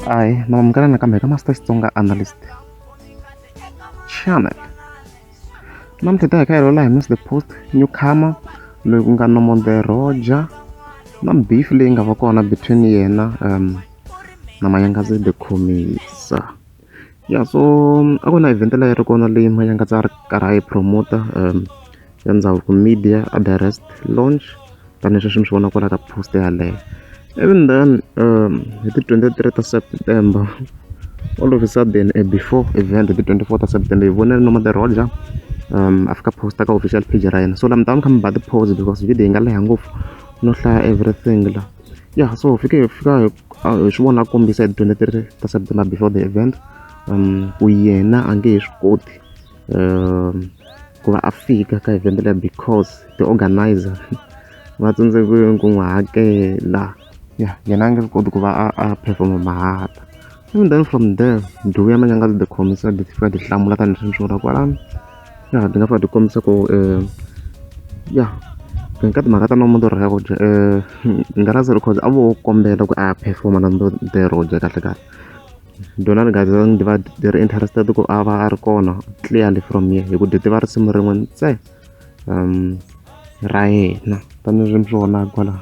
Hi, mama mukana nakambe ka Master Xitsonga Analyst Channel. Namuntlha ta hi ka hi Miss the Post newcomer loyi ku nga Nomonde Roja na beef leyi nga va kona between yena um na Mayangazi the Khomisa. ya so a ku na event leyi a ri kona leyi manyangatsa a ri karhi a yi promoter um ya ndhavuko media a the rest launch tanihileswi mi swi vona kwala ka post yaleyo even then um hi ti twenty three ta september all of a sudden a before event hi ti twenty four ta september hi vonile noma the roger um a fika posta ka official page ra yena so laha mi ta va mi kha mi ba ti-pose because video yi nga leha ngopfu no hlaya everything la ya yeah, so fike fika ah, hi swi vona kombisa hi 23 ta september before the event um ku yena a nge he swi koti um ku va a fika ka event leya because the organizer va tsandzekile ku n'wi hakela ya yena a nge swi koti ku va a a performa mahata And then from there, ndhuvo ya manyanga ti khomisa ti fika ti hlamula tanihi swi swona kwalano. Ya ti nga fika ti kombisa ku eh ya ka ka timhaka ta nomo ndorho ya ku dya eh Ngalazi Records a vo kombela ku a perform na ndo dero dya kahle kahle. Dona ri gazi ndi va ri interested ku a va a ri kona clearly from here hi ku ti tiva risimu rin'we ntsena. ra yena tanihileswi mi swi vonaka kwala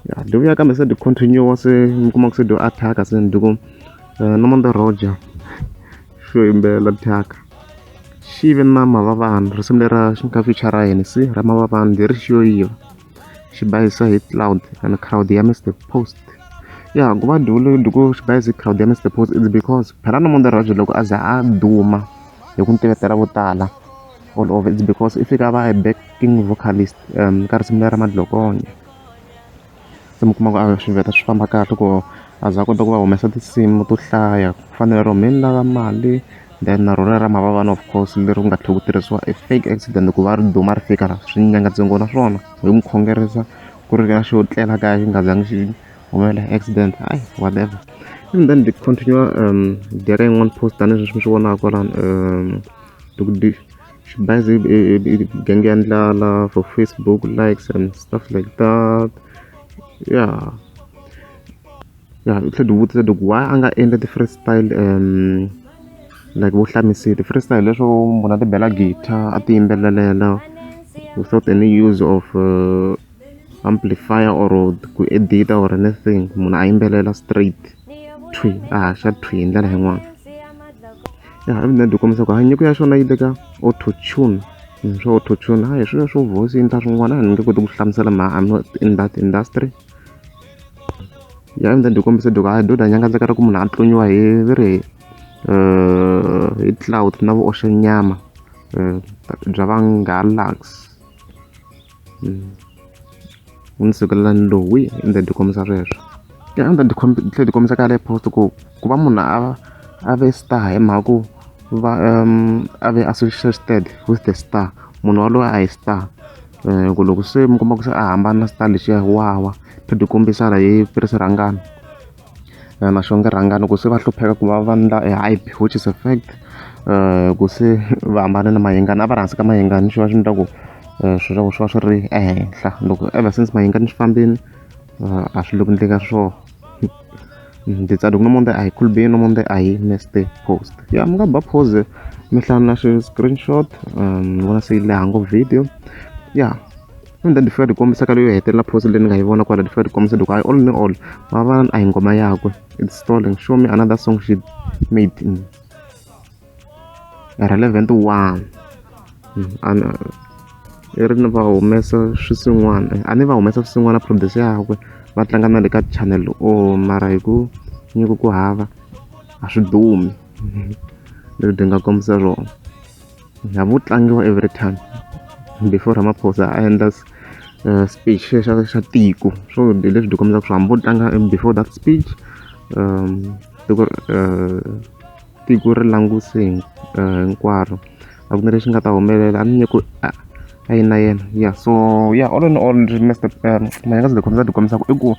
ya dyi vuya kambe se dyi continue se mi kuma ku se dyo attack se ni dyi ku Nomonde Roger xo yimbelela thyaka xi ve na mavavani risimu lera xi nga feature ra Hennessy ra mavavani leri xi yo yiva. xibayiso hi cloud and crowd ya mr post ya ku va dulu duku xibayiso hi crowd ya mr post is because phela no mondoro rajhe loko a za a duma hi ku ntivetela vo tala all over it's because i fika va backing vocalist um ka risimu lera madlokonya se mi kuma ku a swi veta swi famba kahle ku a za a kota ku va humesa tinsimu to hlaya ku fanele ro mi ni lava mali then na rona ra mavava na of course leri ku nga tlhela ku tirhisiwa a fake accident ku va ri duma ri fika la swi nyanga ntsengo na swona hi n'wi khongerisa ku ri ka xo tlela kaya xi nga zangi xi humelela accident hayi whatever and then the continue um dya ka yin'wana post tanihileswi sweswi mi swi vonaka kwalano um loko di xibazi genge ya ndlala for facebook likes and stuff like that yeah ya hi tlhela hi vutisa loko why a nga endli ti-free style like vo hlamusela ti-free style leswo munhu a ti bela guitar a ti yimbelelela without any use of amplifier or ku edita or anything munhu a yimbelela straight thwi a haxa thwi hi ndlela yin'wana ya evident hi kombisa ku ha nyiko ya xona yi le ka auto tune swa auto tune ha hi swilo swo voice yi endla swin'wana a ni nge koti ku hlamusela mhaka I'm not in that industry. ya ndzi ndzi kombisa doko a doda nyanga ndzi karhi ku munhu a tlonyiwa hi ve ri hi cloud na vu oxe nyama bya va ngalax u ndzi sukelela ni lowi i ndzi ndzi kombisa sweswo ya a ndzi ndzi tlhela ndzi kombisa ka le post ku ku va munhu a a ve star hi mhaka ku va a ve associated with the star munhu waloye a hi star ku loko se mi kuma ku se a hambana na xitalo lexiya wa wa phinde u kombisa la hi tirhisa rhangana na xo nge rhangana ku se va hlupheka ku va va ndla e hype which is a fact ku se va hambane na mayengani a va ri hansi ka mayengani xi va xi ni ta ku swilo swa ku swi va swi ri ehenhla loko ever since mayengani swi fambile a swi le ku endleni ka swona. ndzi tsale ku no monde ahi cool be no monde ahi neste post ya mi nga ba pose mi hlana na screenshot um ni vona se yi leha ngo video ya and then ndifika ndikombisa ka leyo hetelela post leyi ni nga yi vona kwala ndifika ndikombisa loko i all ni all va va a hi ngoma yakwe it's stalling show me another song she made mm. relevant one hmm, ana i ri ni va humesa swisin'wana a ni va humesa swisin'wana produce yakwe va tlanga na le ka channel o oh, mara hi ku nyiko ku hava a swi dumi leswi byi nga kombisa rona na vo tlangiwa every time before ramaphosa a endla eh, speech xa xa tiko swo leswi byi kombisaka swo hambi vo tlanga before that speech um tiko eh, tiko ri languse hi hinkwaro a ku na lexi nga ta humelela a ni nge ku a a yi na yena ya so ya all in all ndzi nga se za ni ti kombisa ku i ku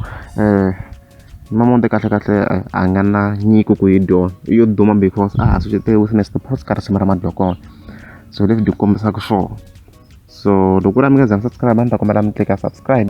mama Mudende kahle kahle a nga na nyiko ku yi dyoha i yo duma because a ha risimu ra madokwana so hi leswi byi kombisaka swona so loko ku ri a mi nga za mi subscribe a ni ta kombela mi tleka subscribe.